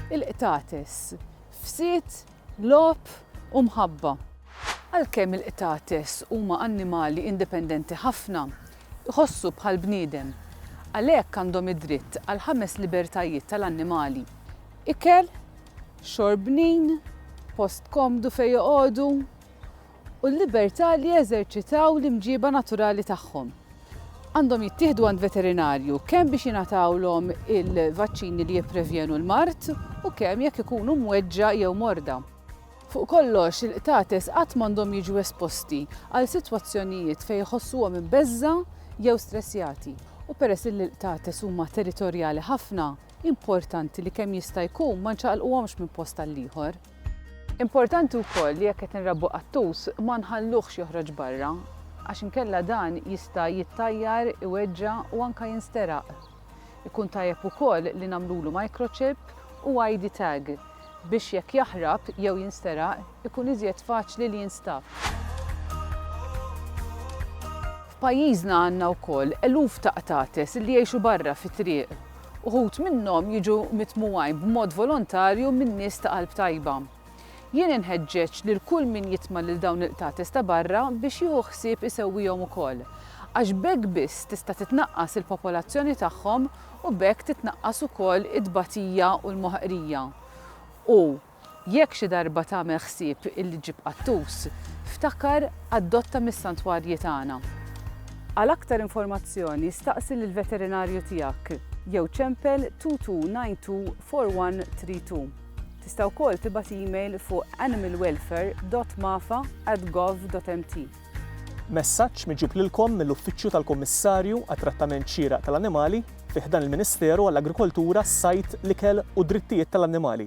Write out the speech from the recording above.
Il-qtates, fsied, logħob u mħabba. Għalkemm il-qtates huma annimali indipendenti ħafna, iħossu bħall-bniedem. Għalhekk għandhom id-dritt għall-ħames libertajiet tal-annimali, ikel, xorbnin, post komdu fejn joqogħdu, u l-libertà li jeżerċitaw l-imġiba naturali tagħhom. Għandhom jittieħdu għand veterinarju kemm biex jingħatawlhom il-vaċċini li jipprevjenu l-mard u kemm jekk ikunu mweġġa' jew morda. Fuq kollox, il-qtates qatt m'għandhom jiġu esposti għal sitwazzjonijiet fejn iħossuhom imbeżżgħa jew stressjati u peress illi l-qtates huma territorjali ħafna, importanti li kemm jista' jkun ma nċaqalquhomx minn post għall-ieħor. Importanti wkoll li jekk qed inrabbu qattus ma nħalluhx joħroġ barra għax inkella dan jista' jittajjar, iweġġa' u anke jinsteraq. Ikun tajjeb ukoll li nagħmlulu microchip u ID tag biex jekk jaħrab jew jinsteraq ikun iżjed faċli li jinstab. F'pajjiżna għandna wkoll eluf ta' qtates li jgħixu barra fit-triq Uħud minnhom jiġu mitmugħin b'mod volontarju minn nies ta' qalb tajba. Jien inħeġġeġ lil kull min jitma' lil dawn il-qtates ta' barra biex jieħu ħsieb isewwihom ukoll, għax b'hekk biss tista' titnaqqas il-popolazzjoni tagħhom u b'hekk titnaqqas ukoll it-tbatija u l-moħqrija, u. Jekk xi darba tagħmel ħsieb illi ġġib qattus, ftakar adotta mis-santwarji tagħna. Għal aktar informazzjoni staqsi lill-veterinarju tiegħek jew ċempel 22924132. Tista' wkoll tibgħat email fuq animalwelfare.mafa@gov.mt. Messaġġ miġjub lilkom mill-Uffiċċju tal-Kummissarju għat-Trattament Xieraq tal-Annimali fi ħdan il-Ministeru għall-Agrikoltura, s-Sajd, l-Ikel u d-Drittijiet tal-Annimali.